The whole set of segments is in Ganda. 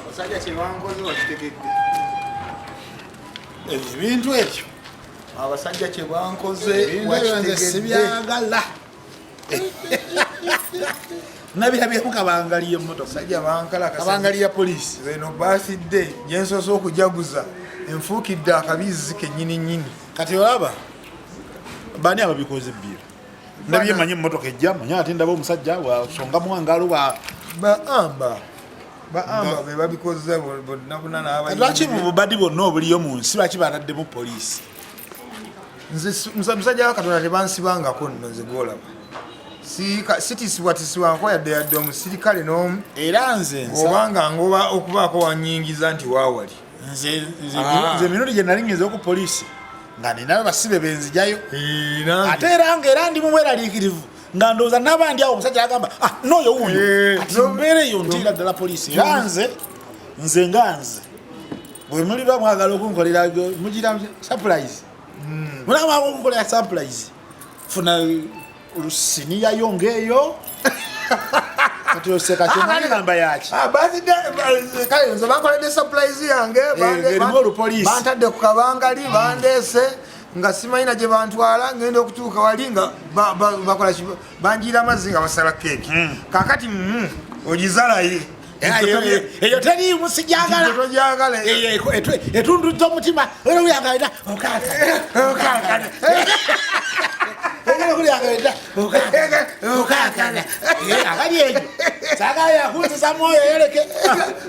Abasajja kyebankoze bakitegedde ebintu ekyo abasajja kyebankoze sibyagala nabirabyemu kabangali yemotokabangali ya polisi eno basidde gyensoose okujaguza enfuukidde akabizzi kenyini nyini kati olaba bani ababikoze ebbira nabye manyi mmotoka ejja manya ate ndaba omusajja wasonga mwangalo ba baamba baamba be babikozza bonna bonna n'abayi lwaki bubadi bonna obuliyo mu nsi lwaki bataddemu poliisi musajja wa katonda tebansibangako nno nze gwolaba sitisibwatisibwanko yadde yadde omusirikale n'omu era nze obanga ngoba okubaako wanyingiza nti waawali nze nze ah. nze minuli je nali ngize ku police nga ni nawe basibe benzi jayo eh, ate era nga era ndi mumwera likirivu nga ndoza nabandi awo musajja agamba ah no yo uyu eh, no mere yo ntira dala police yanze nze nganze bwe muli ba mwagala okunkolera mujira surprise hmm. mulama okunkolera surprise funa Rusiniya yongeyo. Kati oseka kyo nani namba yaki? Ah, bazi de eh, kayo nze bakola de surprise yange eh, bande. Bantadde ku kabangali bandese. Mm. nga simanyi naje bantwala ngenda okutuuka wali nga bakola banjiira amazzi nga basala keeki hmm. kakati hmm, ogizalaye eyo teriimu sijagala etundudde omutima era uyagalira okankana abali eyo sagala yakunzisa mwoyo yoleke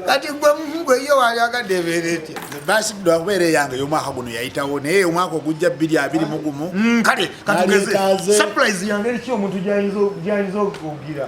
kati gwe mugwe yo wayagadde ebeera etya basigidwa okubeera eyange eyomwaka guno yayitawo naye omwaka ogujja bbiri abiri mugumu kale katugeze surprise yange eriki omuntu gyayinza okugira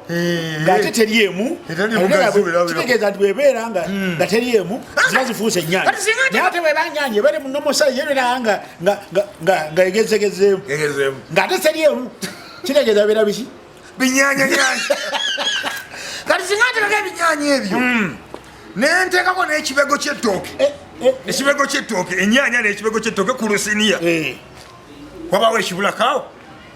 Eh. ngate teri emu kitegeeza nti bwebeera nga hmm. nga teri emu ah. ziba zifuusa ennyanya naye ate bweba nyanya ebere munomusayi yebeera nga nga egezegezeemu ngate teri emu kitegeeza beera biki binyanyanyanya kati singa ntekako ebinyanya ebyo hmm. nentekako n'ekibego kyettooke eh, eh, ekibego kyettooke enyanya n'ekibego kyettooke ku lusiniya wabaawo ekibulakaawo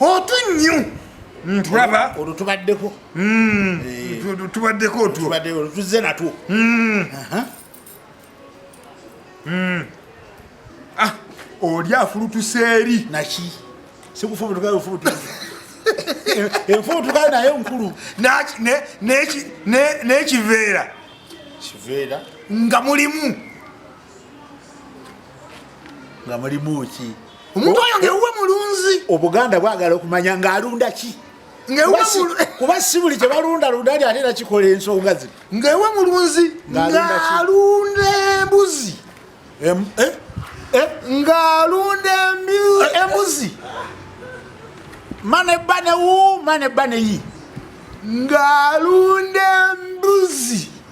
otu nnyo ntulaba olwo tubaddeko hmm. eh. tubaddeko otwo tuzze natwo hmm. Hmm. Ah, oli afulutuse eri naki sikufubutukafubutuka enfubutuka naye nkulu n'ekiveera nga mulimu nga mulimu ki omuntu oyo ngewuwe mulunzi obuganda bwagala okumanya ng'alunda ki kuba si buli kyebalunda lunda ali ate nakikola ensonga zino ngewe mulunzi ng'alunda embuzi eh? Eh? ng'alunda eh? embuzi mane bane wu mane bane yi ng'alunda embuzi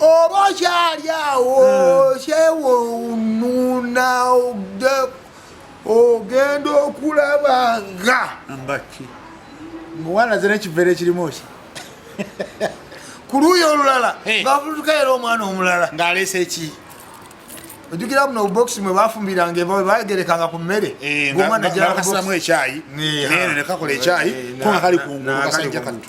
oba okyali awo hmm. kyewonuna ogenda okulaba nga mbaki muwana zina ekivere ekirimu ki ku luuyi olulala ngavutuka era omwana omulala ng'aleese ki ojukira muno obubokisi mwe bafumbiranga eva webagerekanga ku mmere gomwanajakasamu ekyayi nekakola ekyayi konga kali kungulu kasajja kattu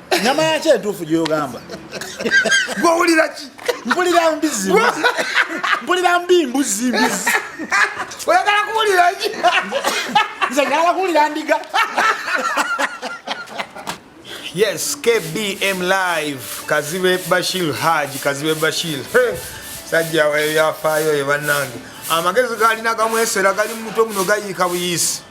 nyama yaki entuufu gyoyogamba gwowulira ki mpulira mbizi mpulira mbi mbuzi mbizi oyagala kuwulira ki nze njagala kuwulira ndiga yes kbm live kazibe bashir haji kazibe bashir sajja ebyafaayo ye bannange amagezi galina gamwesera gali mu mutwe muno gayiika buyisi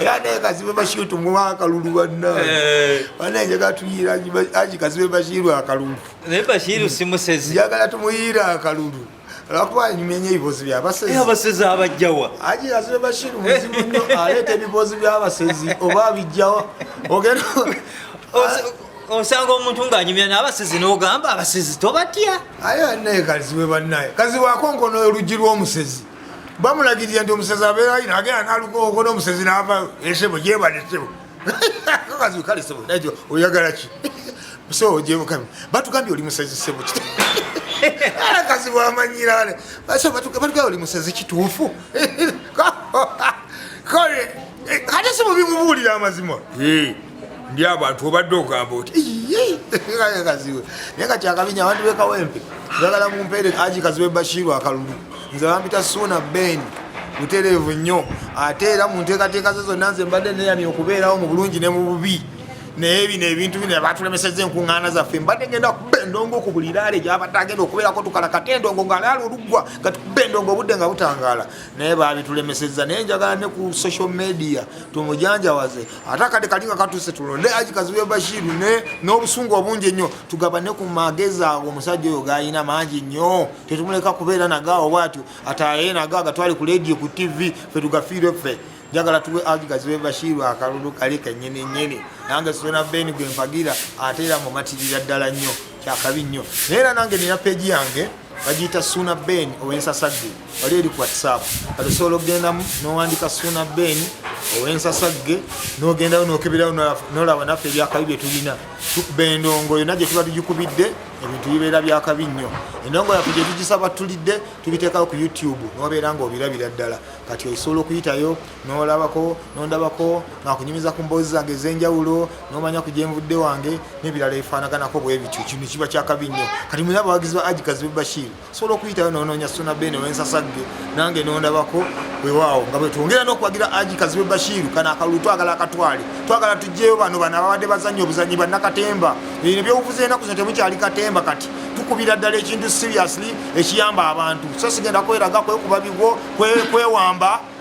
era naye kazibe bashiru tumuwa akalulu bannange katuyira aji kazibe bashiru akalulu naye bashiru simusezi njagala tumuyira akalulu lwakuba nyumya nyo ebibozi byabasezi eh, abasezi abajjawa aji kazibe bashiru muzibu nyo aleeta ebibozi byabasezi oba abijjawa ogenda osanga omuntu ng'anyumya n'abasizi n'ogamba abasizi tobatya aye naye kaziwe bannaye kaziwaako nkono oluggi lw'omusezi bamulagirira nti omusezi abeera ino agenda naluka okola omusezi nava esebo eh, gyebale sebo kakazi kale sebo naye oyagala ki so gyebukami batugambye oli musezi sebo kit akazi bwamanyira wale batugambye oli musezi kituufu kale eh, kati simubimubuulira amazima eh. ndi abantu obadde ogamba oti kaziwe naye kati akabinya abantu bekawempe bagala mumpeere aji kaziwe bashiru akalulu nze bampita suuna beni butereevu nnyo ate era mu nteekateeka ze zonna nze mbadde neyamye okubeerawo mu bulungi ne mu bubi naye bino ebintu bino batulemeseza enkuŋŋaana zaffe mbadde genda kuba endongo ku buli laale gyabadde agenda okubeerako tukalakata endongo nga laala oluggwa nga tukuba endongo obudde nga butangaala naye baabitulemeseza naye njagala ne ku social media tumujanjawaze ate akade kali nga katuse tulonde aji kazibe bashiru ne n'obusungu obungi ennyo tugabane ku magezi ago omusajja oyo gayina mangi nnyo tetumuleka kubeera nagaawo bwatyo ataye naga agatwali ku lediyo ku tivi fe tugafiire ffe njagala tuwe aji kazibe bashiru akalulu kali kenyini nyini nange sona beni gwe mpagira ate era mumatirira ddala nnyo kyakabi nnyo naye era nange nina peji yange bagiyita suuna ben owensasagge wali eri ku whatsapp kati osobola okugendamu nowandika suuna ben owensasagge nogendayo nokeberayo nolaba naffe ebyakabi byetulina tukuba endongo yona gyetuba tugikubidde ebintu bibeera byakabi nnyo endongo yaffe gyetugisaba tulidde tubiteekawo ku youtube nobeera nga obirabira ddala kati osobola okuyitayo nolabako nondabako ngakunyumiza ku mboozi zange ez'enjawulo nomanya ku gyenvudde wange n'ebirala ebifaanaganako bwe bityo kino kiba kyakabi nnyo kati mulina abawagizi ba ajikazi be bashir osobola okuyitayo nononya suna bene wensasagge nange nondabako wewaawo nga bwetwongera n'okuwagira ajikazi be bashiru kana akalulu twagala akatwale twagala tugyeyo bano bano ababadde bazannya obuzanyi bannakatemba ebino byobufuza enaku zino temukyali katemba kati tukubira ddala ekintu seriously ekiyamba abantu so sigenda kweraga kwekuba bigwo kwewamba kwe